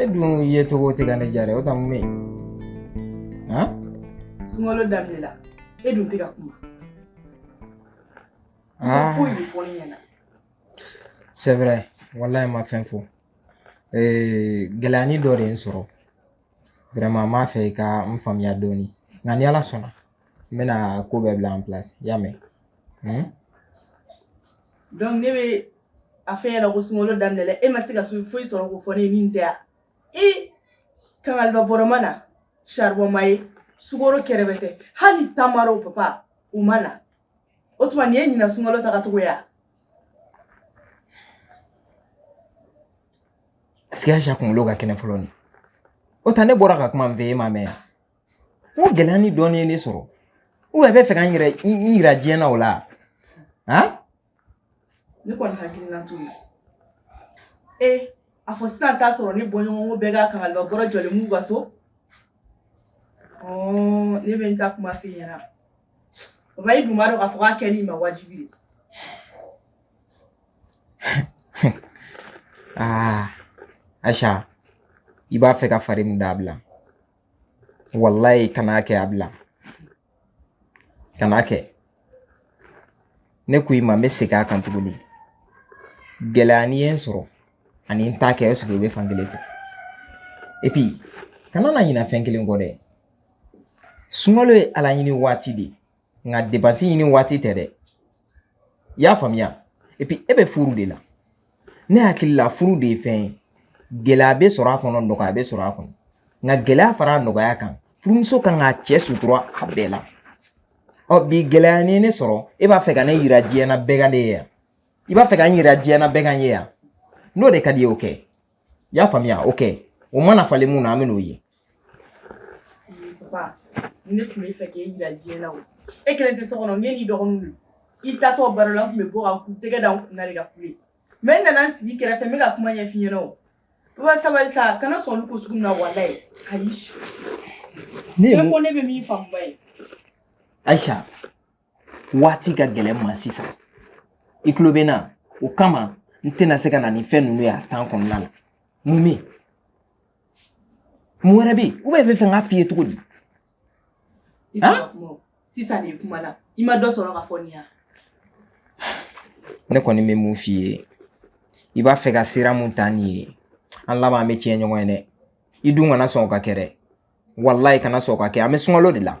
e dun yecogo tɛ ka ne diya dɛ o ta mun bɛ yen sunkalo daminɛ la e dun tɛ ka kuma foyi de fɔ ne ɲɛna c'est vrai walayi n ma fɛn fɔ gɛlɛyani dɔ de ye n sɔrɔ vraiment n b'a fɛ i ka n faamuya dɔɔni nka ni ala sɔnna n bɛna ko bɛɛ bila en place i y'a mɛn donc ne bɛ a f'i ɲɛna ko sunkalo daminɛ la e ma se ka sun foyi sɔrɔ k'o fɔ ne ye nin tɛ ya e kangaliba bɔrɔ ma na saribɔn ma ye sukoro kɛrɛbɛtɛ hali tamaro papa u ma na o tuma nin ye ɲinan sunkalo tagacogo ye wa ɛseke ayisa kunkolo ka kɛnɛ fɔlɔ ni o tɛ ne bɔra ka kuma min fɔ e ma mɛn yan n ko gɛlɛyani dɔɔnin ye ne sɔrɔ ubiyɛn e bɛ fɛ ka n yɛrɛ n yira diɲɛ na o la han ne kɔni hakilina t'o ye ee a fɔ sisan t'a sɔrɔ ne bɔɲɔgɔnko bɛɛ ka kangaliba bɔrɔ jɔlen b'u ka so ne bɛ n ta kuma f'i ɲɛna o papa i dun b'a dɔn k'a fɔ k'a kɛli ma wajibi dɛ aa ayisa i b'a fɛ ka fari min da a bila walayi kan'a kɛ a bila kan'a kɛ ne ko i ma n bɛ segin a kan tuguni gɛlɛyani ye n sɔrɔ ani n t'a kɛ o sigi i bɛ fan kelen fɛ epi kana na ɲina fɛn kelen kɔ dɛ sunkalo ye ala ɲini waati de ye nka depansi ɲini waati tɛ dɛ i y'a faamuya epi e bɛ furu de la ne hakili la furu de ye fɛn ye gɛlɛya bɛ sɔrɔ a kɔnɔ nɔgɔya bɛ sɔrɔ a kɔnɔ nka gɛlɛya fara nɔgɔya kan furumuso ka kan k'a cɛ sutura a bɛɛ la ɔ bi gɛlɛyani ye ne sɔrɔ e b'a fɛ ka ne yira diɲɛ na bɛɛ ka ne ye yan i b'a fɛ ka n yira diɲɛ na bɛɛ ka n ye yan n'o de ka di i ye o kɛ i y'a faamuya o kɛ o mana falen min na an bɛn'o ye Papa, ne tun bɛ fɛ k'e jira diɲɛ na o. E kelen tɛ so kɔnɔ, e n'i dɔgɔninw don. I taatɔ baro la, n tun bɛ bɔ ka n tɛgɛ da n kun na de ka kule. Mais n nana n sigi i kɛrɛfɛ, n bɛ ka kuma ɲɛf'i ɲɛna o. Papa sabali sa, kana sɔn olu ko sugu ninnu na walayi. Ayi. Ne ye mun? Bɛɛ ko ne bɛ min faamu ba ye. Aïcha, waati ka gɛlɛn n ma sisan i tulo bɛ n na o kama n tɛna se ka na ni fɛn ninnu ye a tan kɔnɔna la mun bɛ yen mun wɛrɛ bɛ yen u bɛ fɛ fɛ n k'a f'i ye cogo di sisan de kuma la i ma dɔ sɔrɔ ka fɔ nin ya ne kɔni bɛ min f'i ye i b'a fɛ ka sira min ta nin ye an laban an bɛ tiɲɛ ɲɔgɔn ye dɛ i dun kana sɔn o ka kɛ dɛ walayi kana sɔn o ka kɛ an bɛ sunkalo de la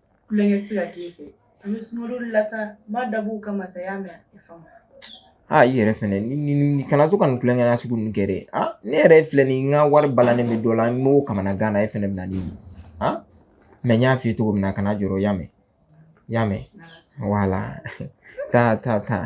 kulonkɛ tɛ se ka k'e fɛ an bɛ sunkalo la sa n b'a dabɔ o kama sa i y'a mɛn a faamu aa i yɛrɛ fɛnɛ ni ni ni kana to ka nin kulonkɛ na sugu ninnu kɛ dɛ a ne yɛrɛ filɛ nin n ka wari balannen bɛ dɔ la n b'o kamanagan na e fɛnɛ bɛ na ni nin a mɛ n y'a f'i ye cogo min na kana jɔrɔ i y'a mɛn i y'a mɛn wala taa taa taa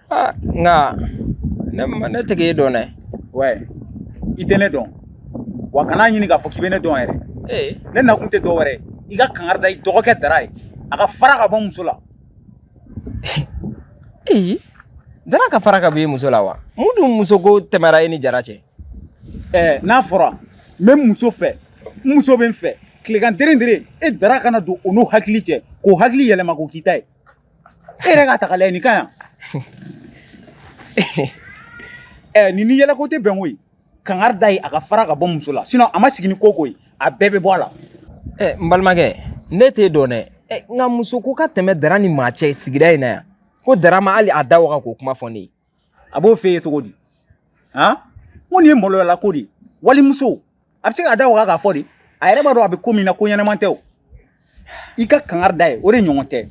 aa nka ne ma ne tɛ k'e dɔn dɛ wɛ i tɛ ne dɔn wa kana ɲini k'a fɔ k'i bɛ ne dɔn yɛrɛ ee ne nakun tɛ dɔ wɛrɛ ye i ka kangari da i dɔgɔkɛ dara ye a ka fara ka bɔ muso la ee dara ka fara ka b'i muso la wa mun dun muso ko tɛmɛra e ni jara cɛ ɛɛ n'a fɔra n bɛ muso fɛ n muso bɛ n fɛ tilegan deren deren e dara ka na don o n'o hakili cɛ k'o hakili yɛlɛma k'o k'i ta ye e yɛrɛ k'a ta k'a lajɛ nin ka yan ɛ nin ni yɛlɛko tɛ bɛnko ye kangari d'a ye a ka fara ka bɔ muso la sinon a ma sigi ni ko o ko ye a bɛɛ bɛ bɔ a la ɛ n balimakɛ ne t'e dɔn dɛ ɛ nka muso ko ka tɛmɛ dara ni maa cɛ sigida in na yan ko dara ma hali a da waga k'o kuma fɔ ne ye a b'o f'e ye cogo di han n ko nin ye maloyala ko de ye walimuso a bɛ se k'a da waga k'a fɔ de a yɛrɛ b'a dɔn a bɛ ko min na ko ɲɛnama tɛ o i ka kangari d'a ye o de ɲɔgɔn tɛ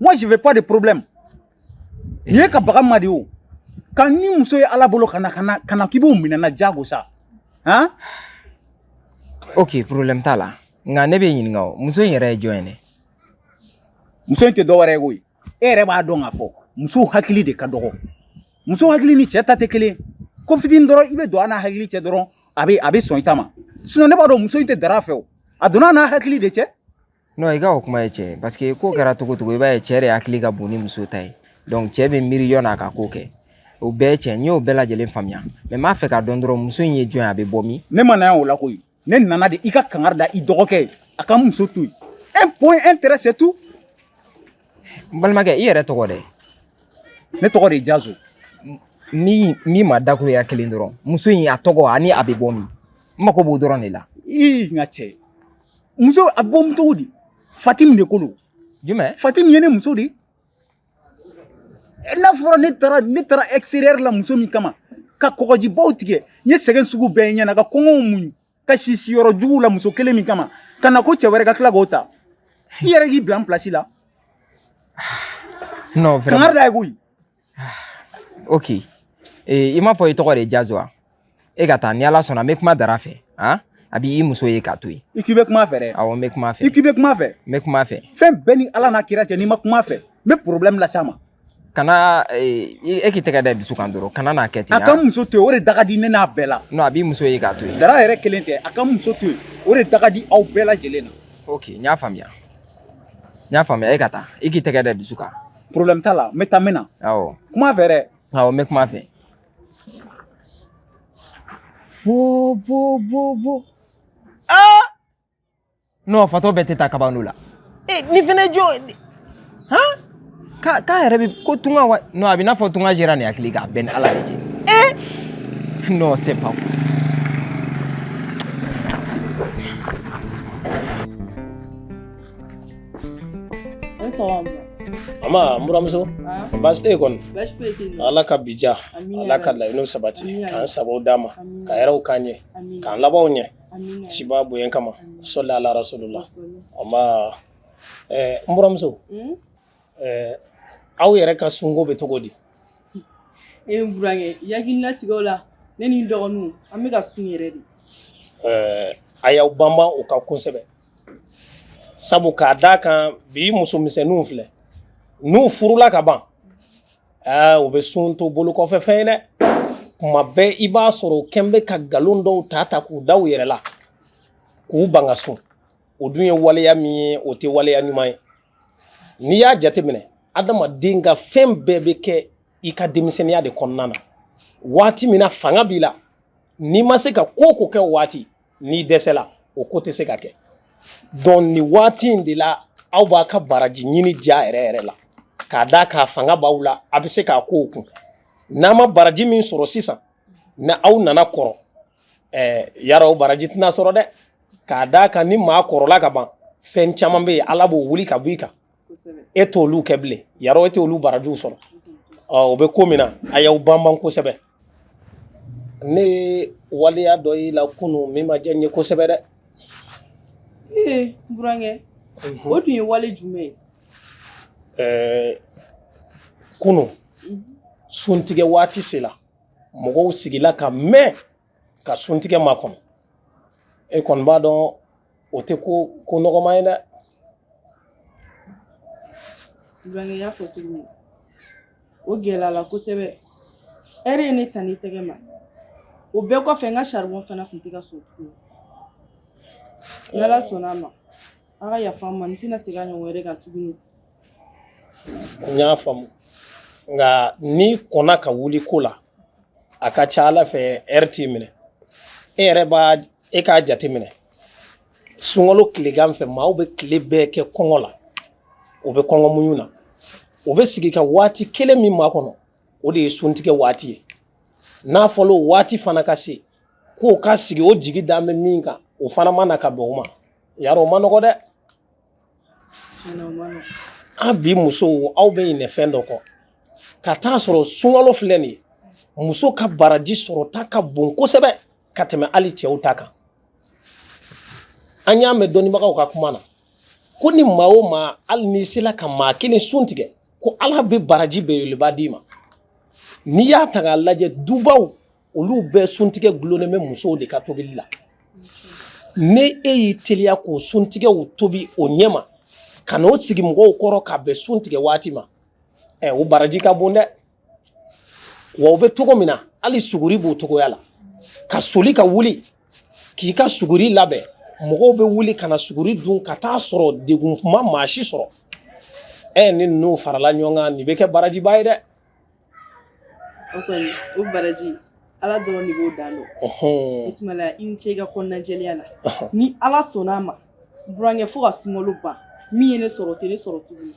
moi je veux pas de problème nin ye ka baga ma de o ka ni muso ye ala bolo ka na ka na ka na k'i b'o minɛ n na jago sa han ok problème t'a la nka ne b'i ɲininka o muso in yɛrɛ ye jɔn ye ne muso in tɛ dɔwɛrɛ ye koyi e yɛrɛ b'a dɔn k'a fɔ musow hakili de ka dɔgɔ muso hakili ni cɛ ta tɛ kelen ko fitini dɔrɔn i bɛ don a n'a hakili cɛ dɔrɔn a bɛ a bɛ sɔn i ta ma ne b'a dɔn muso in tɛ dara fɛ o a donna n'a hakili de cɛ non i ka o kuma ye cɛn ye parce que ko kɛra cogo o cogo i b'a ye cɛ de hakili ka bon ni muso ta ye donc cɛ bɛ miiri yanni a ka ko kɛ o bɛɛ ye cɛn n y'o bɛɛ lajɛlen faamuya mais n b'a fɛ k'a dɔn dɔrɔn muso in ye jɔn ye a bɛ bɔ min ne ma na yan o la koyi ne nana de i ka kangari da i dɔgɔkɛ ye a ka muso to yen un point un trait c'est tout n balimakɛ i yɛrɛ tɔgɔ dɛ ne tɔgɔ de ye jazo min min ma dakuruɲa kelen dɔrɔn muso in a tɔgɔ ani a bɛ bɔ min n mako b'o dɔrɔn de la ii n ka cɛ muso a bɛ bɔ min cogo di fatim de ko don jumɛn fatim ye ne muso de ye n'a fɔra ne taara ne taara extérieur la muso min kama ka kɔgɔjibaw tigɛ n ye sɛgɛn sugu bɛɛ ɲɛna ka kɔngɔw muɲu ka si siyɔrɔ juguw la muso kelen min kama ka na ko cɛ wɛrɛ ka tila k'o ta i yɛrɛ k'i bila n pilasi la non kangari d'a ye koyi ok eh, i m'a fɔ i tɔgɔ de ye jazo wa e ka taa ni ala sɔnna n bɛ kuma dara fɛ han a b'i muso ye k'a to yen i k'i bɛ kuma fɛ dɛ awɔ n bɛ kuma fɛ i k'i bɛ kuma fɛ n bɛ kuma fɛ fɛn bɛ n ni ala n'a kira cɛ n'i ma kuma fɛ n bɛ problème las'a ma kana e e k'i tɛgɛ da dusu kan dɔrɔn kana n'a kɛ ten a ka n muso to yen o de da ka di ne n'a bɛɛ la non a b'i muso ye k'a to yen dara yɛrɛ kelen tɛ a ka n muso to yen o de da ka di aw bɛɛ lajɛlen na ok n y'a faamuya n y'a faamuya e ka taa i k'i tɛgɛ da dusu kan problème t'a la n bɛ taa n bɛ na awɔ kuma fɛ dɛ awɔ n bɛ kuma fɛ Bo bo bo bo. Ah! Non, fatɔ bɛɛ tɛ taa kabano la. Eh, nin fana jɔ. Han? K'a k'a yɛrɛ bɛ ko tunga wa? Non, a b'i n'a fɔ tunga jɛra nin hakili kan, a bɛ n ni Ala de cɛ. Eh! Non, c'est pas possible. Ama n buramuso baasi tɛ kɔni ala ka bi diya ala ka laɲiniw sabati k'an sababu d'a ma ka hɛrɛw k'an ɲɛ k'an labanw ɲɛ ciba bonya kama sɔli ala rasulula ama n buramuso hmm? aw yɛrɛ ka sunko bɛ cogo di e ye n burankɛ i hakili latigɛ o la ne ni n dɔgɔninw an bɛ ka sun yɛrɛ de a y'aw banban o kan kosɛbɛ sabu k'a d'a kan bi muso misɛnninw filɛ n'u furula ka ban aa u bɛ sun to bolokɔfɛfɛn ye dɛ kuma bɛɛ i b'a sɔrɔ u kɛlen bɛ ka nkalon dɔw ta ta k'u da u yɛrɛ la k'u ban ka sun o dun ye waleya min ye o tɛ waleya ɲuman ye n'i y'a jateminɛ adamaden ka fɛn bɛɛ bɛ kɛ i ka denmisɛnninya de kɔnɔna na waati min na fanga b'i la n'i ma se ka ko o ko kɛ o waati n'i dɛsɛla o ko tɛ se ka kɛ donc nin waati in de la aw b'aw ka baraji ɲini ja yɛrɛ yɛrɛ la k'a d'a kan fanga b'aw la a bɛ se ka kow kun n'a ma baraji min sɔrɔ sisan ni aw nana kɔrɔ ɛɛ yara o baraji tɛna sɔrɔ dɛ k'a d'a kan ni maa kɔrɔla ka ban fɛn caman bɛ yen ala b'o wuli ka bɔ i kan e t' olu kɛ bilen yara e tɛ olu barajiw sɔrɔ o bɛ ko min na a y'aw banban kosɛbɛ ne ye waleya dɔ y'i la kunun min ma diya n ye kosɛbɛ dɛ ee n burankɛ mhm. o tun ye wale jumɛn ye ɛɛ kunun mhm. suntigɛ waati sera mɔgɔw sigila ka mɛn ka suntigɛ makɔnɔ e kɔni b'a dɔn o tɛ ko nɔgɔman ye dɛ n burankɛ y'a fɔ cogo min o gɛlɛyala kosɛbɛ ɛri ye ne ta ni tɛgɛ ma o bɛɛ kɔfɛ n ka saribɔn fana tun tɛ ka sɔn tuguni ni ala sɔnna ama a ka yafa n ma n tɛna segin a ɲɔgɔn wɛrɛ kan tuguni n y'a faamu nka n'i kɔnna ka wuli ko la a ka ca ala fɛ ɛri t'i minɛ e yɛrɛ b'a e k'a jateminɛ sunkalo tilegan fɛ maaw bɛ tile bɛɛ kɛ kɔngɔ la o bɛ kɔngɔ muɲu na o bɛ sigi ka waati kelen min makɔnɔ o de ye suntigɛ waati ye n'a fɔra o waati fana ka se k'o ka sigi o jigi dalen bɛ min kan o fana ma na ka bɛn o ma yarɔ o man nɔgɔ dɛ an bi musow aw bɛ ɲinɛ fɛn dɔ kɔ ka taa sɔrɔ sunkalo filɛ nin ye muso ka baraji sɔrɔta ka bon kosɛbɛ ka tɛmɛ hali cɛw ta kan an y'a mɛn dɔnnibagaw ka kuma na ko ni maa o maa hali n'i sela ka maa kelen sun tigɛ ko ala bɛ baraji belebeleba d'i ma n'i y'a ta k'a lajɛ dubaw olu bɛɛ suntigɛ dulonnen bɛ musow de ka tobili la ni e y'i teliya k'o suntigɛw tobi o ɲɛma ka n'o sigi mɔgɔw kɔrɔ ka bɛn suntigɛ waati ma ɛ o baraji ka bon dɛ wa o bɛ cogo min na hali suguri b'o cogoya la ka soli ka wuli k'i ka suguri labɛn mɔgɔw bɛ wuli ka na suguri dun ka taa sɔrɔ degun ma maa si sɔrɔ ɛ ni ninnu farala ɲɔgɔn kan nin bɛ kɛ barajiba ye dɛ O kɔni o baraji ala dɔrɔn de b'o dan dɔn o tuma la i ni ce i ka kɔnɔna jɛlenya la ni ala sɔnna a ma burankɛ fo ka sunkalo ban min ye ne sɔrɔ o tɛ ne sɔrɔ tuguni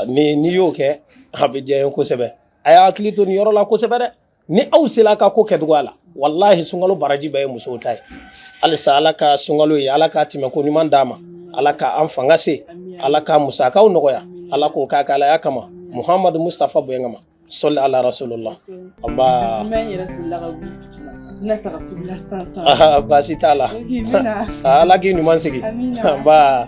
ni n'i y'o kɛ a bɛ diya n ye kosɛbɛ a y'a hakili to nin yɔrɔ la kosɛbɛ dɛ ni aw sera ka ko kɛ cogoya la walahi sunkalo baraji bɛɛ ye musow ta ye halisa ala ka sunkalo ye ala ka tɛmɛko ɲuman d'an ma ala ka an fanga se ala ka musakaw nɔgɔya ala k'o k'a ka alaya kama muhamadu mustafa bonya kama sɔli ala rasulullah aba baasi t'a la ala k'i ɲuman sigi ba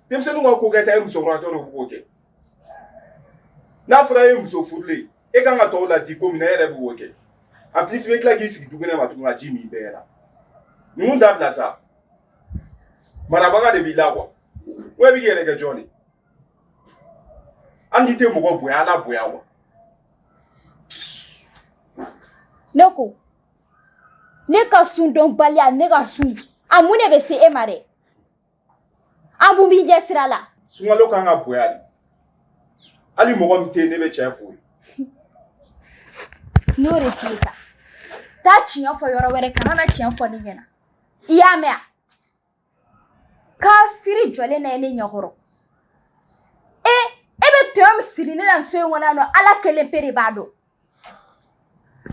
denmisɛnninw ka ko kɛta ye musokɔrɔbatɔ de b'o kɛ n'a fɔra e ye muso furulen e kan ka tɔw laadi ko min na e yɛrɛ b'o kɛ en plus bɛ tila k'i sigi dukɛnɛ ma tuguni ka ji min bɛɛ la ninnu dabila sa marabaga de b'i la kuwa wa i bɛ k'i yɛrɛ kɛ jɔn de hali n'i tɛ mɔgɔ bonya ala bonya wa ne ko ne ka sun dɔnbaliya ne ka sun a mun de bɛ se e ma dɛ an mun b'i ɲɛ sira la sunkalo kan ka bonya de hali mɔgɔ min tɛ yen ne bɛ tiɲɛ fɔ i ye n'o de f'i ye sa taa tiɲɛ fɔ yɔrɔ wɛrɛ kana na tiɲɛ fɔ ne ɲɛna i y'a mɛn a kafiri jɔlen na ye ne ɲɛkɔrɔ e e bɛ tɔɲɔ min siri ne na nin so in kɔnɔ yan nɔ ala kelen pe de b'a dɔn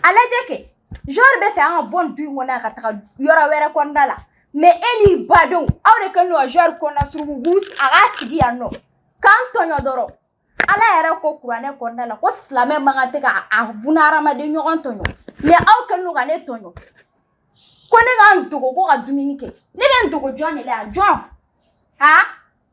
a lajɛ kɛ genre b'a fɛ an ka bɔ nin du in kɔnɔ yan ka taga yɔrɔ wɛrɛ kɔnɔna la mais e n'i badenw aw de kɛlen don ka genre kɔnɔna suruku a ka sigi yan nɔ k'an tɔɲɔ dɔrɔn ala yɛrɛ ko kuranɛ kɔnɔna la ko silamɛ man kan tɛ ka a bunahadamaden ɲɔgɔn tɔɲɔ mais aw kɛlen don ka ne tɔɲɔ ko ne ka n dogo ko ka dumuni kɛ ne bɛ n dogo jɔn de la yan jɔn a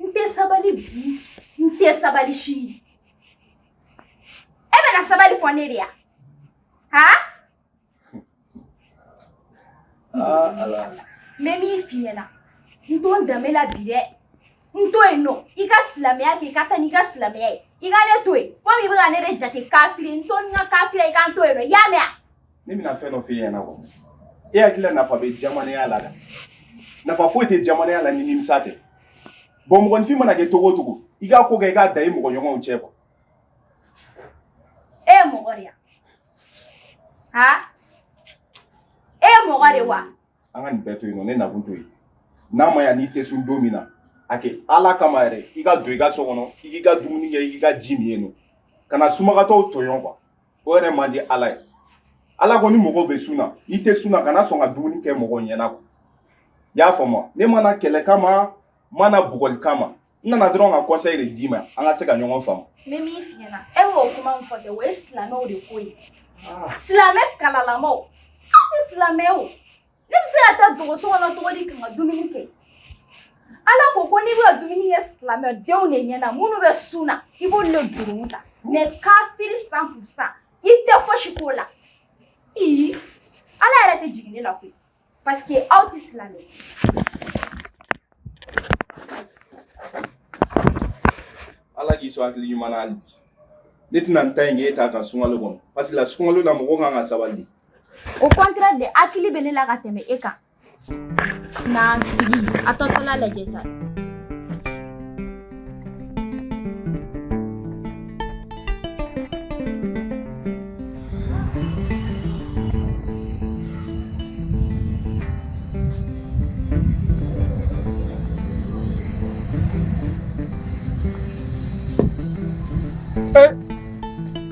n tɛ sabali bi n tɛ sabali sini e bɛna sabali fɔ ne de ya han n bɛ min f'i ɲɛna n to n danbe la bi dɛ n to yen nɔ i ka silamɛya kɛ i ka taa n'i ka silamɛya ye i ka ne to yen komi i bɛ ka ne de jate kafiri n to ni n ka kafiriya i ka n to yen nɔ i y'a mɛn wa ne bɛna fɛn dɔ f'i ɲɛna kɔ e hakili la nafa bɛ jamanaya la dɛ nafa foyi tɛ jamanaya la ni nimisa tɛ bon mɔgɔninfin mana kɛ cogo o cogo i ka ko kɛ i k'a da i mɔgɔ ɲɔgɔnw cɛ kɔ e ye mɔgɔ de ya ha e ye mɔgɔ de wa an ka nin bɛɛ to yen nɔ ne nakun to yen n'a ma ɲa n'i tɛ sun don min na a kɛ ala kama yɛrɛ i ka don i ka so kɔnɔ i k'i ka dumuni kɛ i k'i ka ji min yen nɔ kana sunbagatɔw tɔɲɔ kuwa o yɛrɛ man di ala ye ala ko ni mɔgɔw bɛ sun na i tɛ sun na kana sɔn ka dumuni kɛ mɔgɔw ɲɛna kuwa i y'a faamu ne ma na kɛlɛ kama ma na bugɔli kama n nana dɔrɔn ka conseil de d'i ma an ka se ka ɲɔgɔn faamu n bɛ min f'i ɲɛna e b'o kuma min fɔ kɛ o ye silamɛw de ko ye silamɛ kalalamaw aw tɛ silamɛ ye o ne bɛ se ka taa dogo so kɔnɔ cogo di ka n ka dumuni kɛ ala ko ko n'i bɛ ka dumuni kɛ silamɛdenw de ɲɛna minnu bɛ sun na i b'olu de juru ta mais kafiri cent pour cent i tɛ fosi k'o la ii ala yɛrɛ tɛ jigin ne la koyi parce que aw tɛ silamɛ ala k'i sɔn hakili ɲuman na hali bi ne tɛna n ta in kɛ e ta kan sunkalo kɔnɔ parce que la sunkalo la mɔgɔ kan ka sabali au contraire de hakili bɛ ne la ka tɛmɛ e kan na a tɔtɔla lajɛ sa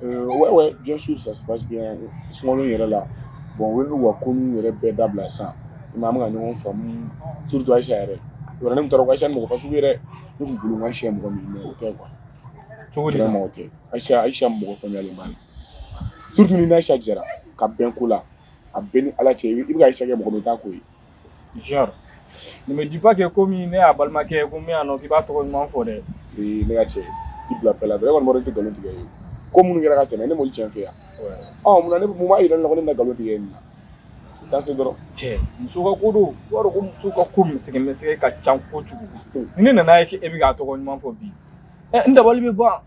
ouais ouais bien sûr ça se passe bien sunkalo yɛrɛ la bon u ye n'u ka ko ninnu yɛrɛ bɛɛ dabila sisan i ma an bɛ ka ɲɔgɔn faamu surtout Ayisa yɛrɛ yɔrɔ ne tun taara ko Ayisa ni mɔgɔ fasugu yɛrɛ ne tun bolo n ka siɲɛ mɔgɔ min mais o tɛ quoi cogo di vraiment o tɛ Ayisa Ayisa mɔgɔ faamuyalen ba de surtout ni n'Ayisa jɛra ka bɛn ko la a bɛ n ni Ala cɛ i bɛ ka Ayisa kɛ mɔgɔ min i t'a ko ye Genre, ne me dis pas que komi ne y'a balimakɛ ye ko n bɛ yan nɔ k'i b'a tɔgɔ ɲuman fɔ dɛ. Ee ne ka cɛ i bila pɛla dɔrɔn e kɔni b'a dɔn n tɛ nkalon tigɛ i ye ko minnu kɛra ka tɛmɛ ne m'olu tiɲɛ f'i ye wa ɔ mun na ne mun b'a yira ne la ko ne bɛna nkalon tigɛ nin na ça c'est drôle Cɛ, muso ka ko don. I b'a dɔn ko muso ka ko misɛgɛ misɛgɛ ka ca kojugu. Ni ne nan'a ye k'e bɛ k'a tɔgɔ ɲuman fɔ bi, ɛ n dabali bɛ ban.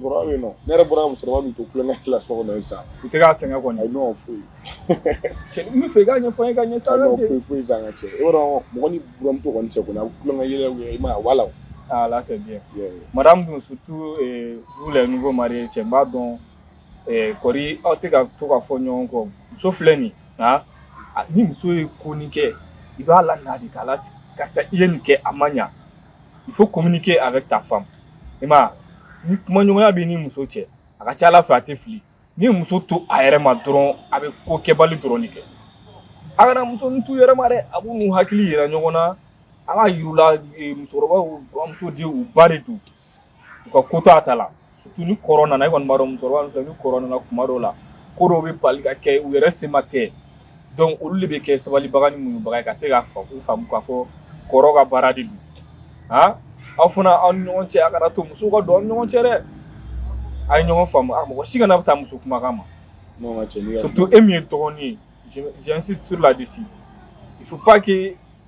Kɔrɔba bɛ yen nɔ ne yɛrɛ bɔra musokɔrɔba min to tulonkɛ la so kɔnɔ sisan i tɛ k'a sɛgɛn kɔni ayi non foyi cɛ n b'a fɛ i k'a ɲɛfɔ n ye ka ɲɛ sa non foyi foyi sa n ka cɛ i b'a dɔn mɔgɔ ni buramuso kɔni cɛ kɔni a bɛ tulonkɛ yɛlɛ u ye i m'a ye voilà ah là c'est bien madame dun surtout eh, vous les nouveaux mariés cɛ n b'a dɔn eh, kɔri aw tɛ ka to ka fɔ ɲɔgɔn kɔ muso filɛ nin ah ni muso ye ko nin kɛ i b'a lana de k'a lasigi karisa i ye nin kɛ a ma ɲa il faut communiquer avec ta femme i ma ni kumaɲɔgɔnya b'i ni muso cɛ a ka ca ala fɛ a tɛ fili ni muso to a yɛrɛ ma dɔrɔn a bɛ ko kɛbali dɔrɔn de kɛ a kana muso ninnu t'u yɛrɛ ma dɛ a b'u n'u hakili yira ɲɔgɔn na a k'a yir'u la musokɔrɔbaw buramuso tɛ u ba de don u ka ko to a ta la surtout ni kɔrɔ nana e kɔni b'a dɔn musokɔrɔba ninnu filɛ ni kɔrɔ nana kuma dɔw la ko dɔw bɛ bali ka kɛ u yɛrɛ se ma tɛ donc olu de bɛ kɛ sabalibaga ni muɲubaga ye ka se ka fa k'u faamu k'a fɔ kɔrɔ ka baara de don han aw fana aw ni ɲɔgɔn cɛ a kana to musow ka don aw ni ɲɔgɔn cɛ dɛ a ye ɲɔgɔn faamu a mɔgɔ si kana bɛ taa muso kumakan ma N'o ma cɛ ni ka surtout e min ye dɔgɔnin ye je- j'insiste sur là dessus il faut pas que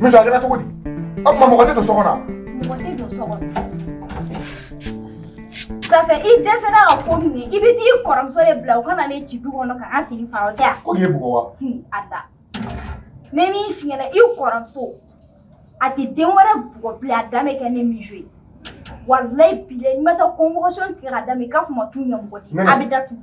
Miso a kɛra cogo di o tuma mɔgɔ tɛ don so kɔnɔ mɔgɔ tɛ don so kɔnɔ Ça fait i dɛsɛra ka ko min i bɛ t'i kɔrɔmuso de bila o ka na ne ci du kɔnɔ ka n fini fara o tɛ wa ko nin y'e bugɔ wa a da n bɛ min f'i ɲɛna i kɔrɔmuso a tɛ den wɛrɛ bugɔ bilen a dan bɛ kɛ ne Miso ye walayi bilayi ni n ma taa convocation tigɛ ka d'a ma i k'a fɔ n ma t'u ɲɛmɔgɔ di a bɛ datugu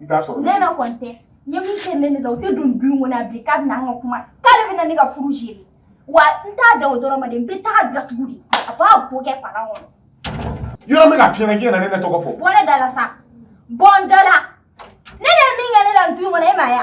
i t'a sɔrɔ Nene kɔni tɛ n ye min kɛ Nene la a tɛ don du in kɔnɔ a bilen k'a bɛna an ka kuma k'ale bɛna ne ka furu gérer wa n t'a dan o dɔrɔn ma dɛ n bɛ t'a datugu de a b'a bo kɛ palan kɔnɔ yɔrɔ min ka fiɲɛ i kana Nene tɔgɔ fɔ bɔ ne da la sa bɔ n da la Nene ye min kɛ ne la du in kɔnɔ e m'a ye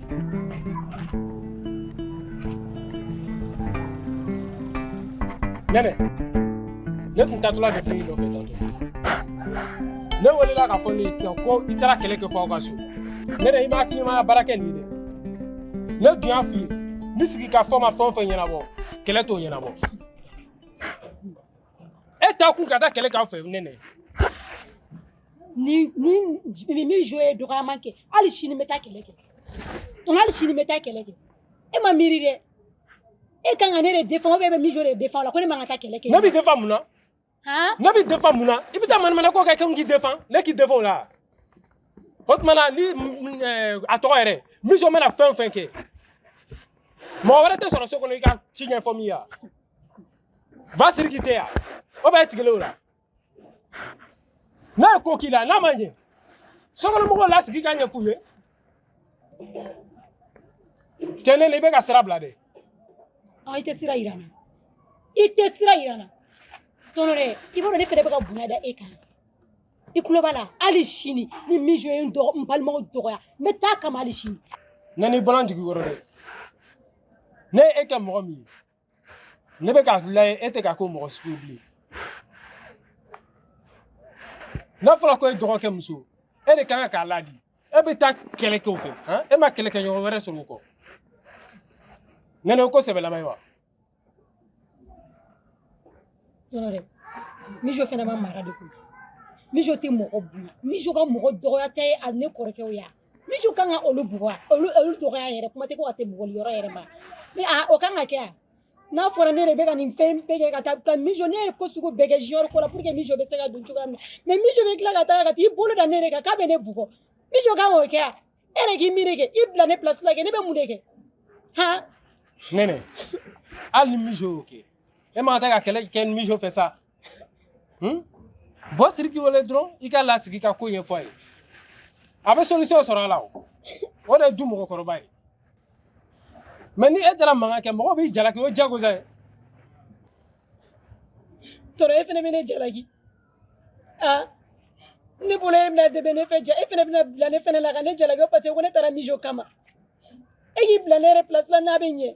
Nene, ne tun taatɔla de fɛn dɔ kɛ tantôt. Ne welela k'a fɔ ne ye sisan ko i taara kɛlɛ kɛ fo aw ka so. Nene, i ma hakilimaya baara kɛ nin ye dɛ. Ne dun y'a f'i ye, ni sigikafɔ ma fɛn o fɛn ɲɛnabɔ, kɛlɛ t'o ɲɛnabɔ. E taa kun ka taa kɛlɛ k'aw fɛ, Nene. ni ni ni mijo ye dɔgɔyama kɛ hali sini n bɛ taa kɛlɛ kɛ tɔnɔ hali sini n bɛ taa kɛlɛ kɛ e ma miiri dɛ e kan ka ne de défend ou bien e bɛ mijo de défend la ko ne man ka taa kɛlɛ kɛ ne b'i défend mun na ne b'i défend mun na i bɛ taa manamana ko kɛ k'i défend ne k'i défend o la o tuma na ni a tɔgɔ yɛrɛ mijo mana fɛn o fɛn kɛ mɔgɔ wɛrɛ tɛ sɔrɔ so kɔnɔ i ka ci ɲɛfɔ min ye wa va siriki tɛ yan o bɛ tigɛlen o la n'a ye ko k'i la n'a ma ɲɛ sokɔnɔmɔgɔw lasigi k'a ɲɛf'u ye cɛ nɛnɛ i bɛ ka sira bila dɛ i tɛ sira yira n na i tɛ sira yira n na tɔnɔ dɛ i b'a dɔn ne fɛnɛ bɛ ka bonya da e kan i tulo b'a la hali sini ni mijo ye n balimaw dɔgɔya n bɛ taa a kama hali sini nɛnɛ i bɔra n jigi kɔrɔ dɛ ne ye e kɛ mɔgɔ min ye ne bɛ k'a lajɛ e tɛ ka k'o mɔgɔ sugu bilen n'a fɔra ko e dɔgɔkɛ muso e de kan k'a ladi e bɛ taa kɛlɛ kɛ o fɛ han e ma kɛlɛkɛɲɔgɔn wɛrɛ sɔrɔ o kɔ nɛnɛ o ko sɛbɛlama ye wa tɔnɔ dɛ mijo fɛnɛ ma mara de koyi mijo tɛ mɔgɔ bonya mijo ka mɔgɔ dɔgɔya tɛ a ne kɔrɔkɛw ya mijo kan ka olu bugɔ olu olu dɔgɔya yɛrɛ kuma tɛ ko ka se bugɔli yɔrɔ yɛrɛ ma mais o kan ka kɛ a n'a fɔra ne de bɛ ka nin fɛn bɛɛ kɛ ka taa ka mijo ne ye ko sugu bɛɛ kɛ junior ko la pour que mijo bɛ se ka don cogoya min na mais mijo bɛ tila ka taa ka t'i bolo da ne de kan k'a bɛ ne bugɔ mijo kan k'o kɛ a e de k'i miiri kɛ i bila ne place la kɛ ne bɛ mun de kɛ han nɛnɛ hali ni mijo y'o kɛ e man ka taa ka kɛlɛ kɛ ni mijo fɛ sa Hmm? bɔ siriki wele dɔrɔn i ka lasigi ka ko ɲɛfɔ a ye a bɛ solution sɔrɔ a la o o de ye du mɔgɔkɔrɔba ye mais ni e taara mankan kɛ mɔgɔw b'i jalaki o ye jagosa ye tɔrɔ e fana bɛ ne jalaki aa ne bolo e bɛna dɛmɛ ne fɛ ja e fana bɛna bila ne fana la ka ne jalaki parce que ko ne taara mijo kama e k'i bila ne yɛrɛ place la n'a bɛ ɲɛ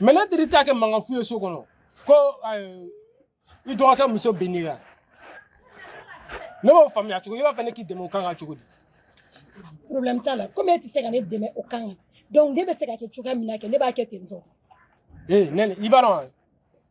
mais ne teri t'a kɛ mankan fu ye so kɔnɔ ko i dɔgɔkɛ muso binn'i kan ne b'o faamuya cogo i b'a fɛ ne k'i dɛmɛ o kan ka cogo di problème t'a la komi e tɛ se ka ne dɛmɛ o kan donc ne bɛ se ka kɛ cogoya min na kɛ ne b'a kɛ ten tɔ ee nɛnɛ i b'a dɔn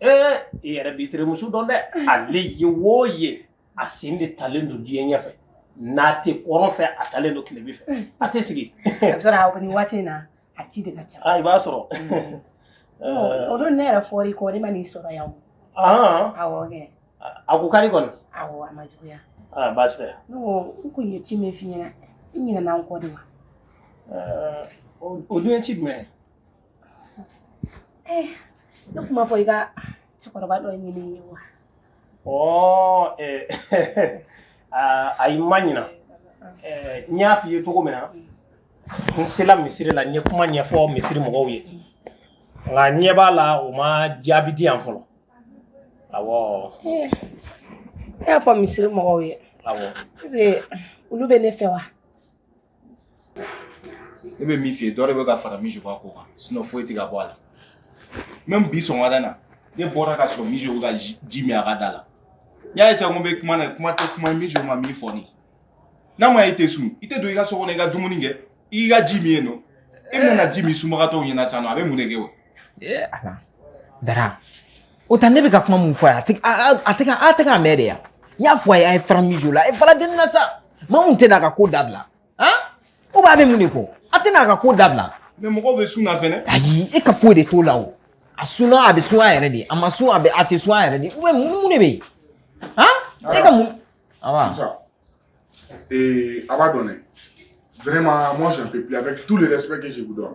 ee i yɛrɛ b'i terimuso dɔn dɛ ale ye wo ye a sen de talen don diɲɛ ɲɛfɛ n'a tɛ kɔrɔn fɛ a talen don tilebin fɛ a tɛ sigi a bɛ sɔrɔ a nin waati in na a ci de ka ca aa i b'a sɔrɔ o don ne yɛrɛ fɔra i kɔ ne ma n'i sɔrɔ yan o aa awɔ kɛ a ko ka di kɔni awɔ a ma juguya aa baasi tɛ ne ko n kun ye ci min f'i ɲɛna i ɲinɛna n kɔ de wa Ɛɛ, o o dun ye ci jumɛn ye Eh, ne kun m'a fɔ i ka cɛkɔrɔba dɔ ɲini n ye wa ɔ eh, ah, ayi n ma ɲina Eh, n y'a f'i ye cogo min na n sela misiri la n ye kuma ɲɛfɔ misiri mɔgɔw ye nka n ɲɛ b'a la u ma jaabi di yan fɔlɔ awɔ Eh, e y'a fɔ misiri mɔgɔw ye awɔ Ee, olu bɛ ne fɛ wa ne bɛ min f'i ye dɔ de bɛ ka fara Mijo ka ko kan sinon foyi tɛ ka bɔ a la même bi sɔgɔmada na ne bɔra ka sɔrɔ Mijo bɛ ka ji min a ka da la n y'a essayer ko n bɛ kuma na kuma tɛ kuma Mijo ma min fɔ ne ye n'a ma ye i tɛ sun i tɛ don i ka so kɔnɔ i ka dumuni kɛ i ka ji min ye nɔ e bɛna ji min sunbagatɔw ɲɛna sisan nɔ a bɛ mun de kɛ o ee ala dara o ta ne bɛ ka kuma mun fɔ a ye a tɛ a a- a tɛ ka a tɛ k'a mɛn de ya n y'a fɔ a ye a ye fara Mijo la a ye fara dennin na sa maa mun tɛna a ka ko dabila han o b'a bɛ mun de kɔ a tɛna a ka ko dabila mɛ mɔgɔw bɛ sun na fɛnɛ ayi e ka foyi de t'o la o a sunna a bɛ sun a yɛrɛ de a ma sun a bɛ a tɛ sun a yɛrɛ de u bɛ mun mun de bɛ yen han e ka mun awa Sisan, Et à va donner. Vraiment, moi, je ne peux plus. Avec tout le respect que je vous donne.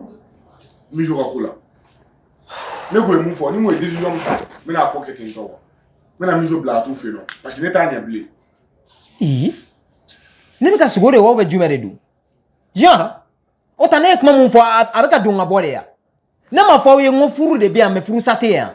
Mais je suis là. Mais vous avez fort. Nous, des gens, mais la pocket est encore. Mais la mise au blanc, tout fait non. Parce que n'est pas un blé. Hum. Ne bɛ ka sogo de wa ou bɛ jumɛn de dun yan o ta ne ye kuma mun fɔ a bɛ ka don ka bɔ de yan ne m'a fɔ aw ye n ko furu de bɛ yan mɛ furusa tɛ yan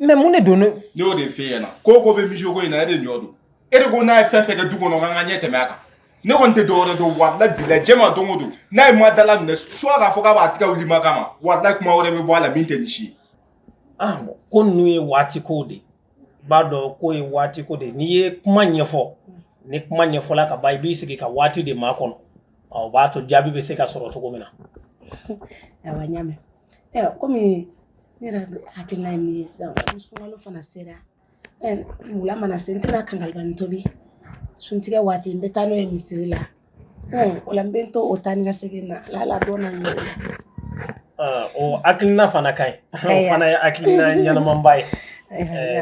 mɛ mun de don ne y'o de f'e ɲɛna ko o ko bɛ Mijo ko in na e de ɲɔ don e de ko n'a ye fɛn fɛn kɛ du kɔnɔ k'an ka ɲɛ tɛmɛ a kan ne kɔni tɛ dɔwɛrɛ dɔn walayi bilayi diɲɛ ma don o don n'a ye ma dalaminɛ soit k'a fɔ k'a b'a tɛgɛ wuli ma kama walayi kuma wɛrɛ bɛ bɔ a la min tɛ nin si ye ah bon ko ninnu ye waati kow de ye i b'a dɔn k'o ye waati ko de ye n'i ye kuma ɲɛfɔ ni kuma ɲɛfɔla ka ban i b'i sigi ka waati de makɔnɔ ɔ, o b'a to jaabi bɛ se ka sɔrɔ cogo min na awa n y'a mɛn Ayiwa kɔmi ne yɛrɛ hakilina ye min ye sisan ni sunkalo fana sera wula mana se n tɛna kankalibanin tobi suntigɛ waati n bɛ taa n'o ye misiri la o la n bɛ to o taa ni ka segin na lala dɔn na ɲɛ o hakilina fana ka ɲi o fana ye hakilina ɲɛnamanba ye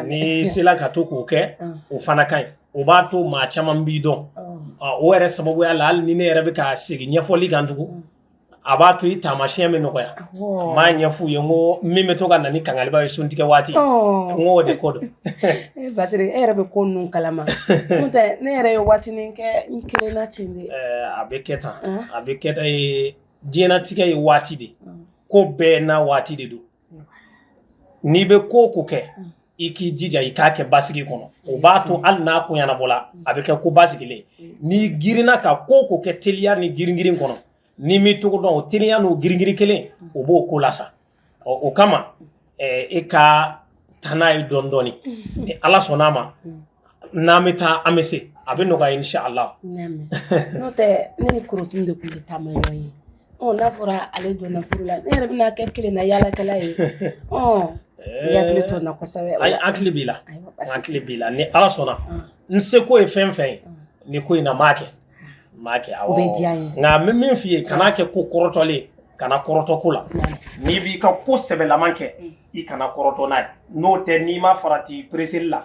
n'i sela ka to k'o kɛ o fana ka ɲi o b'a to maa caman b'i dɔn o yɛrɛ sababuya la hali ni ne yɛrɛ bɛ ka segin ɲɛfɔli kan tugun a b'a to i taamasiyɛn bɛ nɔgɔya n m'a ɲɛf'u ye n ko min bɛ to ka na ni kangaliba ye suntigɛ waati n ko o de ko don Basiri e yɛrɛ bɛ ko ninnu kalama n'o tɛ ne yɛrɛ ye waatinin kɛ n kelenna ten de a bɛ kɛ tan a bɛ kɛ tan diɲɛnatigɛ ye waati de ko bɛɛ n'a waati de don n'i bɛ ko o ko kɛ mm. i k'i jija i k'a kɛ basigi kɔnɔ o b'a to hali n'a ko ɲɛnabɔla mm. a bɛ kɛ ko basigilen mm. n'i girinna ka ko o ko kɛ teliya ni giringirin kɔnɔ n'i m'i togo dɔn o teliya n'o giringirin kelen o b'o ko lasa ɔ o kama e ka taa n'a ye dɔɔni dɔɔni ni ala sɔnn'a ma n'an bɛ taa an bɛ se a bɛ nɔgɔya insha Allah n'o tɛ ne ni korotun de tun bɛ taama ɲɔgɔn ye ɔ n'a fɔra ale donna furu la ne yɛrɛ bɛna kɛ kelen na yaalakɛla ye ɔ i hakili to n na kosɛbɛ ayi hakili b'i la hakili b'i la ni Ala sɔnna n seko ye fɛn fɛn ye nin ko in na n b'a kɛ n b'a kɛ awɔ o bɛ diya n ye nka n bɛ min f'i ye kan'a kɛ ko kɔrɔtɔlen ye kana kɔrɔtɔ ko la n'i b'i ka ko sɛbɛlaman kɛ i kana kɔrɔtɔ n'a ye n'o tɛ n'i ma farati pereseli la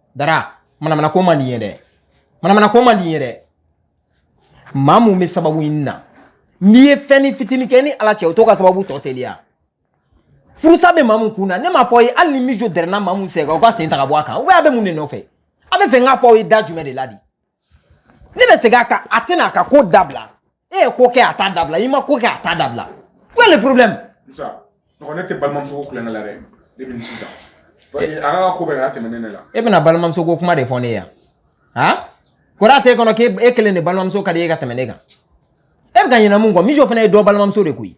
Dara, manamana ko man di n ye dɛ. Manamana ko man di n ye dɛ. Mamu bɛ sababu ɲini na n'i ye fɛnnin fitinin kɛ ni ala cɛ o t'o ka sababu tɔ teliya furusa bɛ Mamu kun na ne m'a fɔ aw ye hali ni mijo dɛrɛnna Mamu sen kan o ka sen ta ka bɔ a kan ou bien a bɛ mun de nɔfɛ a b'a fɛ n k'a fɔ aw ye da jumɛn de la di ne bɛ segin a kan a tɛna a ka ko dabila e ye ko kɛ a t'a dabila i ma ko kɛ a t'a dabila où est le problème. musa mɔgɔ ne tɛ balimamuso ko kolon kɛ la dɛ ne bɛ nin sisan a ka ko bɛ ka tɛmɛ ne la. e bɛna balimamuso ko kuma de fɔ ne ye yan han kɔrɔ t'e kɔnɔ k'e kelen de balimamuso ka di e ka tɛmɛ ne kan e bɛ ka ɲinɛ mun kɔ mijo fana ye dɔ balimamuso de koyi.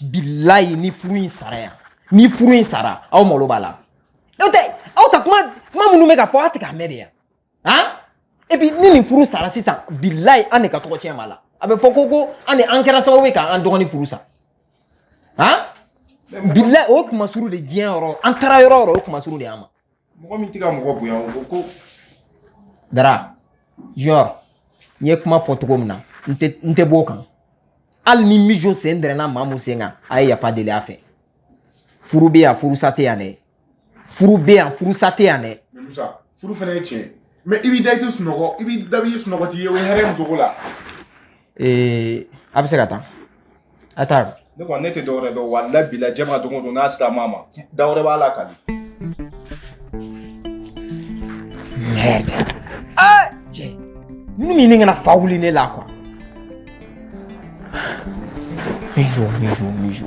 bilayi ni furu in sara yan ni furu in sara aw malo b'a la n'o tɛ aw ta kuma kuma minnu bɛ ka fɔ aw tɛ k'a mɛn de yan han et puis ni nin furu sara sisan bilayi an de ka tɔgɔ tiɲɛ b'a la a bɛ fɔ ko ko an de an kɛra sababu ye k'an dɔgɔnin furu sa han bilayi o ye kunmasuuli de diɲɛ yɔrɔ an taara yɔrɔ o yɔrɔ o ye kunmasuuli de y'an ma mɔgɔ min tɛ ka mɔgɔ bonya o ko ko dara genre n ye kuma fɔ cogo min na n tɛ n tɛ b'o kan hali ni mijo sen dɛrɛnna Mamu sen kan a ye yafa deli a fɛ furu bɛ yan furusa tɛ yan dɛ furu bɛ yan furusa tɛ yan dɛ Musa furu fana ye tiɲɛ ye mais i b'i da i tɛ sunɔgɔ i b'i da i ye sunɔgɔ t'i ye o ye hɛrɛ muso ko la ee a bɛ se ka taa a taa ne kɔni ne tɛ dɔwɛrɛ dɔn walayi bilayi jɛ ma don o don n'a sera ma ma da wɛrɛ b'a la kali merde ah cɛ ninnu min ne kana fa wuli ne la quoi Mijo, mijo, mijo.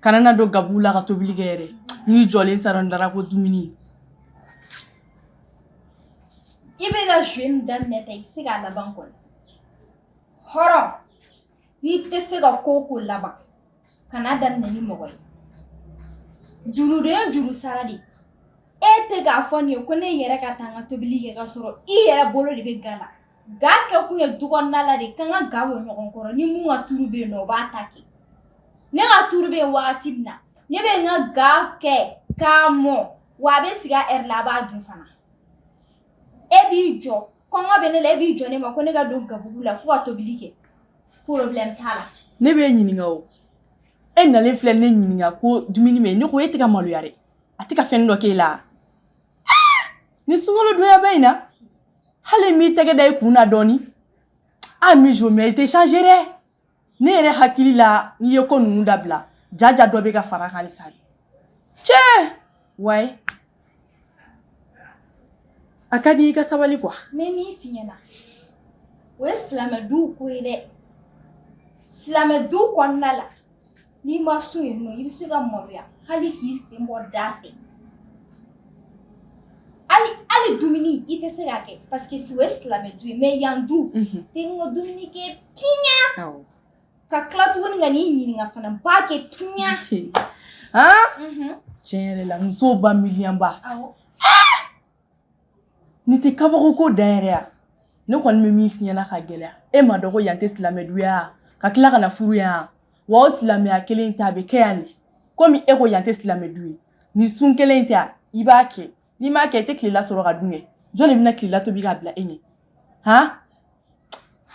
kana na don gabugu la ka tobili kɛ yɛrɛ n'i jɔlen sara n dara ko dumuni i bɛ ka jouer min daminɛ tan i bɛ se k'a laban kɔni hɔrɔn n'i tɛ se ka ko o ko laban kan'a daminɛ ni mɔgɔ ye juru de ye juru sara de e tɛ k'a fɔ nin ye ko ne yɛrɛ ka taa n ka tobili kɛ k'a sɔrɔ i yɛrɛ bolo de bɛ ga la Ga kɛ kun ye du kɔnɔna la de k'an ka ga bɔ ɲɔgɔn kɔrɔ ni min ka turu bɛ yen nɔ o b'a ta kɛ ne ka turu bɛ yen wagati min na ne bɛ n ka ga kɛ k'a mɔ wa a bɛ sigi a ɛri la a b'a dun fana e b'i jɔ kɔngɔ bɛ ne la e b'i jɔ ne ma ko ne ka don gabugu la ko ka tobili kɛ problème t'a la ne bɛ e ɲininka o e nalen filɛ ne ɲininka ko dumuni bɛ yen ne ko e tɛ ka maloya dɛ a tɛ ka fɛn dɔ k'e la ni sunkalo donyaba in na hali m'i tɛgɛ da i kun na dɔɔni a Mijo mɛ i tɛ changer dɛ ne yɛrɛ hakili la n'i ye ko ninnu dabila jaja dɔ bɛ ka fara kan halisa de cɛ wayi a ka di i ka sabali kuwa. n bɛ min f'i ɲɛna o ye silamɛ duw ko ye dɛ silamɛ duw kɔnɔna la. n'i ma sun yen nɔ i bɛ se ka maloya hali k'i sen bɔ da fɛ hali dumuni i tɛ se k'a kɛ paseke si o ye silamɛ du ye mɛ yan du tɛ n ka dumuni kɛ piɲa ka tila tuguni ka n'i ɲininka fana n b'a kɛ piɲa tiɲɛ yɛrɛ la musow ba miiriyanba nin tɛ kabako ko dan yɛrɛ ya ne kɔni bɛ min f'i ɲɛna ka gɛlɛya e ma dɔn ko yan tɛ silamɛ du ya ka tila ka na furu yan wa o silamɛya kelen in ta a bɛ kɛ yan de komi e ko yan tɛ silamɛ du ye nin sun kelen in ta i b'a kɛ n'i m'a kɛ i tɛ tilela sɔrɔ ka dun kɛ jɔn de bɛna tilela tobi k'a bila e ɲɛ han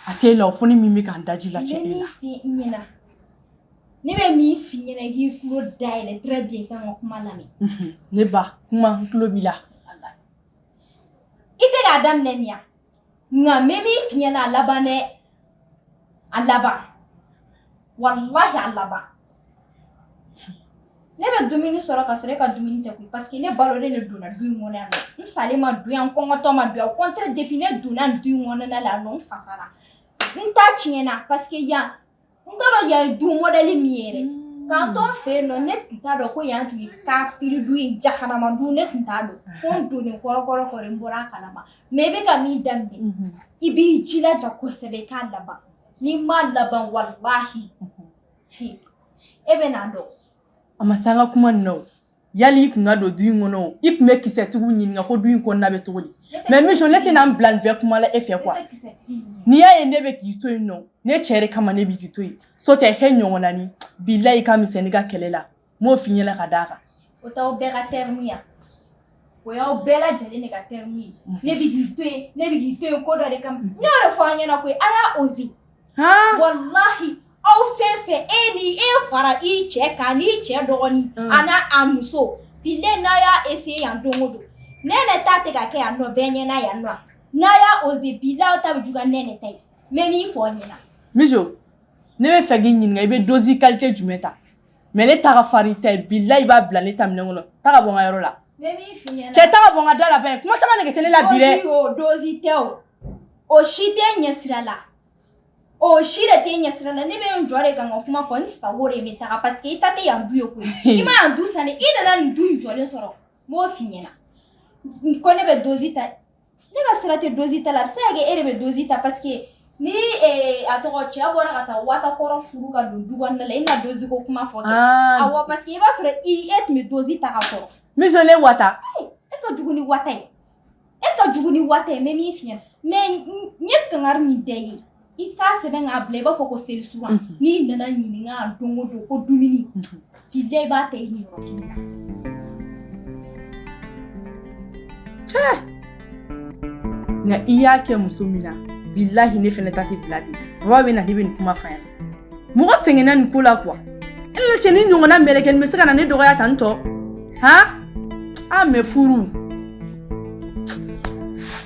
a tɛ la o fɔ ni min bɛ k'an daji la cɛ e la ne bɛ min f'i ɲɛna i k'i tulo dayɛlɛ très bien i ka n ka kuma lamɛn mhm. n'i ba kuma n tulo b'i la i tɛ k'a daminɛ nin ya nka n bɛ min f'i ɲɛna a laban dɛ a laban walahi a laban ne bɛ dumuni sɔrɔ ka sɔrɔ e ka dumuni tɛ koyi paseke ne balolen de donna du in kɔnɔ yan nɔ n salen ma don yan n kɔngɔtɔ ma don yan au contraire depi ne donna du in kɔnɔna la yan nɔ n fasara n ta tiɲɛna paseke yan n t'a dɔn yan ye du mɔdɛli min ye yɛrɛ k'an to n fɛ yen nɔ ne tun t'a dɔn ko yan tun ye kafiri du ye jahanama du ne tun t'a dɔn fo n donnen kɔrɔkɔrɔ kɔrɔ n bɔra a kalama mɛ i bɛ ka min daminɛ i b'i jilaja kosɛbɛ i k'a laban N'i m'a laban walahi e bɛn'a dɔn a ma se an ka kuma na yali i tun ka don du in kɔnɔ i tun bɛ kisɛtigiw ɲininka ko du in kɔnɔna bɛ cogo di mɛ Mijo ne tɛna n bila nin bɛɛ kuma la e fɛ kuwa n'i y'a ye ne bɛ k'i to yen nɔ ne cɛ de kama ne bɛ k'i to yen so tɛ e ɲɔgɔn naani bilayi ka mi ka kɛlɛ la n m'o f'i ɲɛna ka d'a kan o t'aw bɛɛ ka tɛrimu ye o y'aw bɛɛ lajɛlen de ka tɛrimu ye ne bɛ k'i to yen ne bɛ k'i to yen ko dɔ de kama n y'o de fɔ aw ɲɛna koyi a y'a oze walahi aw fɛn fɛn e ni e fara i cɛ kan n'i cɛ dɔgɔnin an'a muso bilen n'a y'a eseye yan don o don ne ne ta tɛ ka kɛ yan nɔ bɛɛ ɲɛna yan nɔ n'a y'a oze bi la aw ta bɛ juguya ni ne ta ye n bɛ min fɔ aw ɲɛna. mijo ne b'a fɛ k'i ɲininka i bɛ dozi kalite jumɛn ta. mɛ ne ta ka farin tɛ bilahi i b'a bila ne ta minɛn kɔnɔ taga bɔ n ka yɔrɔ la cɛ taga bɔ n ka da la bɛn kuma caman nege tɛ ne la bi dɛ dozi tɛ o o si tɛ ne sira la o si de tɛ ne sira la ne bɛ n jɔ de ka n ka kuma fɔ n sago de bɛ taga paseke i ta tɛ yan du ye koyi i ma yan du san i nana nin du in jɔlen sɔrɔ n b'o f'i ɲɛna ko ne bɛ dozi ta ne ka sira tɛ dozi ta la a bɛ se ka kɛ e de bɛ dozi ta parce que ni eh, a tɔgɔ cɛ bɔra ka taa wata kɔrɔ furu ka don du kɔnɔna la i na dozi ko kuma fɔ kɛ. awɔ parce que i b'a sɔrɔ e tun bɛ dozi ta ka kɔrɔ mijo ne wata e ka jugu ni wata ye e ka jugu ni wata ye n bɛ min f'i ɲɛna mɛ n ye kangari min da i ye i k'a sɛbɛn k'a bila i b'a fɔ ko seli sura n'i nana ɲininka a don o don ko dumuni bilahi i b'a ta i niyɔrɔ kelen na. cɛ nka i y'a kɛ muso min na bilahi ne fɛnɛ ta tɛ bila ten baba bɛ na ne bɛ nin kuma f'a ɲɛna mɔgɔ sɛgɛnna nin ko la kuwa e la cɛ nin ɲɔgɔnna mɛlɛkɛnin bɛ se ka na ne dɔgɔya tan tɔ han a mɛ furu